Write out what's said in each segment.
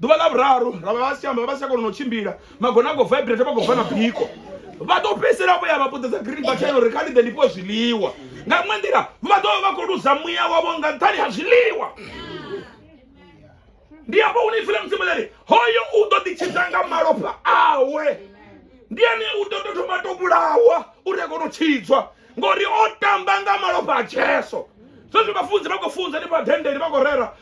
ḓuvha ḽa vhuraru ra vha vha si tsha amba vha si tsha kona na u tshimbila magona a khou vibrate vha khou bva na biko vha ḓo fhedzisela vho ya vha puṱedza green button uri kha ni ḓe ni fhiwe zwiḽiwa nga iṅwe nḓila vha ḓo vha vha khou luza muya wavho nga nṱhani ha zwiḽiwa ndi hafho hune ipfi ḽa mudzimu ḽari hoyo u ḓo ḓitshidza nga malofha awe ndi ane u ḓo tou thoma to vhulawa uri a kone u tshidzwa ngori o tamba nga malofha a jesu zwezwi vhafunzi vha khou funza ni vhadendeli vha khou rera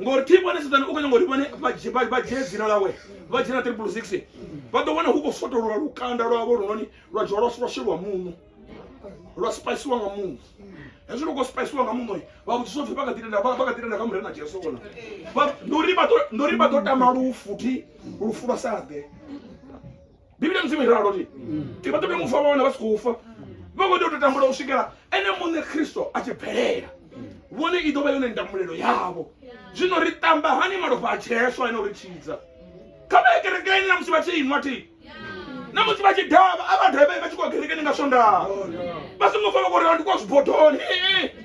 ngori thi vhone sedzani u khou nyanga uri vhone vha dzhie dzina ḽawe vha dzhena triple six vha ḓo wana hu khou fotololwa lukanda lwavho lunoni lwa dzhiwa lwa lwa sheliwa muṋo lwa spiciwa nga muṋo hezwi lu khou spiciwa nga muṋo vha vhudzisa upfhi vha kha ḓi tenda vha kha ḓi tenda kha mure na jesu ona ndi uri vha ḓo tama lufu thi lufu lwa sa ḓe bivhili mudzimu iralo ti ti vha ṱoḓa mufu a vha wana vha si khou fa vha khou tea u to tambula u swikela ene muṋe khristo a tshi bvelela vhone i ḓo vha yone ndamulelo yavho zwino ri tamba hani malofha a tsheswa ene uri tshidza kha vha ye kerekeni na musi vha tshi inwa ti na musi vha tshi dava a vha dave vha tshi khou kerekeni nga swondaha vha songo fa vha khou ri ndi kwa zwibodoni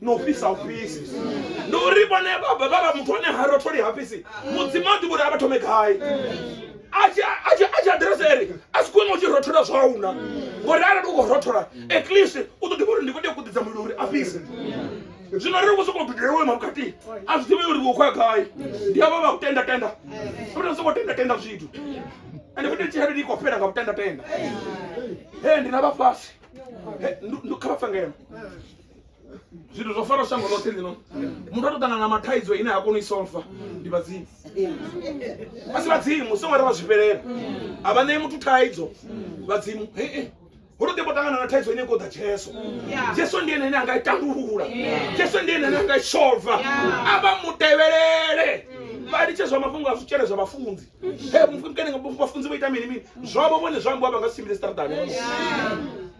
na u fhisa u fhisi ndi uri vhone vha vha muthu ane ha rotholi ha fhisi mudzimu a ḓivha uri a vha thome gai a tshi aḓirese eri a si khwine u tshi rothola zwauna ngori arali u khou rothola at least u ḓo ḓivha uri ndi khou tea kuḓidza mulilo uri a fhise zwino ri khou sokou dudela iwe mavhukati a zwi ḓivhe uri vho khoya gai ndi avha vha u tenda tenda ri sokou tenda tenda zwithu ende futhi tshelede ndi khou fhela nga vhutenda tenda he ndi na vhafhasi kha vha pfe ngeno zwithu zwo fara shango ḽoṱhe ḽino muthu a to ṱangana na mathaidzo ine ha koni u i solfa ndi vhadzimu a si vhadzimu songo ri vha zwi fhelela a vha ṋei muthu thaidzo vhadzimu hee hu to ḓi ṱangana na thaidzo ine i khou ḓa jesu jesu ndi ene ane a nga i tandulula jesu ndi ene ane a nga i solva a vha mu tevhelele vha litshe zwa mafhungo a zwitshele zwa vhafunzi he mufukene vhafunzi vho ita mini mini zwavho vhone zwa ambiwa vha nga si tshimbile siṱaraṱani